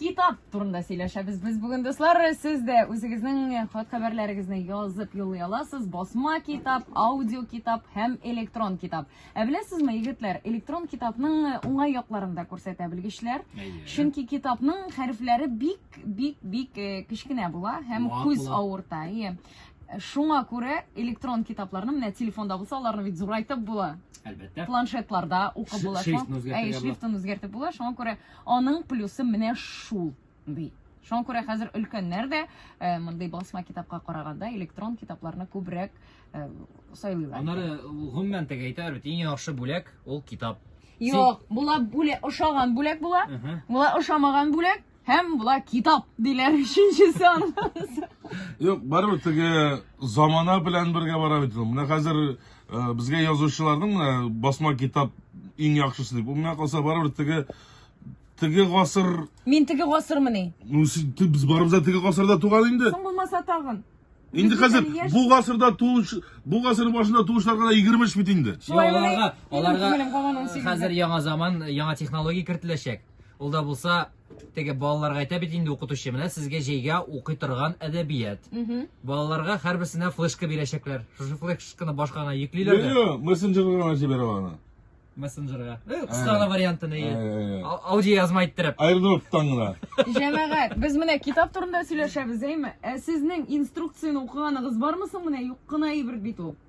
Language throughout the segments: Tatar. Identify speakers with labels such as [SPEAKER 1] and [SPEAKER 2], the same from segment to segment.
[SPEAKER 1] китап турында сөйләшәбез без бүген дуслар сез дә үзегезнең хат хәбәрләрегезне язып юллый аласыз басма китап аудио китап һәм электрон китап ә беләсезме егетләр электрон китапның уңай якларын да күрсәтә белгечләр чөнки китапның хәрефләре бик бик бик кечкенә була һәм күз авырта Шуңа күрә электрон китапларны менә телефонда булса, аларны бит зурайтып була. Әлбәттә. Планшетларда
[SPEAKER 2] укып
[SPEAKER 1] була. Шрифтны үзгәртергә була. Шрифтын үзгәртеп була. Шуңа күрә аның плюсы менә шул, ди. Шуңа күрә хәзер өлкәннәр дә э, мондый басма китапка караганда электрон китапларны күбрәк э, сайлыйлар. Аннары
[SPEAKER 2] гомумән тәгә әйтәләр бит, иң яхшы бүләк ул китап. Юк, була
[SPEAKER 1] бүләк, ошаган бүләк була. Була ошамаган бүләк. Һәм була китап диләр өченчесе аны. Юк, барыбер
[SPEAKER 3] теге замана белән бергә бара бит ул. Менә хәзер э, безгә язучыларның менә басма китап иң яхшысы дип. Ул менә калса барыбер теге теге гасыр, Мин теге
[SPEAKER 1] гасырмыни? ну, син- ты- без барыбыз
[SPEAKER 3] да теге гасырда туган инде. Соң булмаса тагын.
[SPEAKER 1] Инде Без хәзер
[SPEAKER 3] бөтен яшь- бу гасырда туыш, бу гасыр башында туышларга да 23 бит инде. Шулай Аларга, мени? Минем аларга күңелем
[SPEAKER 2] кабан 18 хәзер яңа заман, яңа технология кертеләчәк. Ул да булса, теге балаларга әйтә бит инде укытучы, менә сезгә җәйгә укый торган әдәбият. Балаларга һәрберсенә флешка бирәчәкләр. Шушы флешканы башка гына йөклиләр дә. Йо, мессенджерга
[SPEAKER 3] гына җибәрә аны. Мессенджерга. Э,
[SPEAKER 2] Кыска гына вариантын, әйе. Э, А- Аудиоязма иттереп. Аердроптан гына.
[SPEAKER 3] Җәмәгать, без
[SPEAKER 1] менә китап турында сөйләшәбез, әйме? Ә сезнең инструкцияне укыганыгыз бармы соң менә юк кына әйбер бит ул.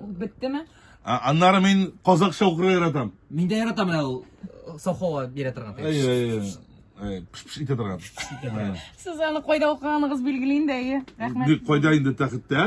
[SPEAKER 3] Беттеме?
[SPEAKER 1] А- Аннары
[SPEAKER 3] мин казакча укырга яратам. Мин дә яратам менә ул
[SPEAKER 2] э, совхозга бирә торган. Әй, әй, әй, әй,
[SPEAKER 3] пш-пш итә торган. Ә. Сез
[SPEAKER 1] аны
[SPEAKER 3] кайда
[SPEAKER 1] укыганыгыз билгели инде,
[SPEAKER 3] әйе.
[SPEAKER 1] Рәхмәт. Бик
[SPEAKER 3] кайда инде
[SPEAKER 1] тәхеттә?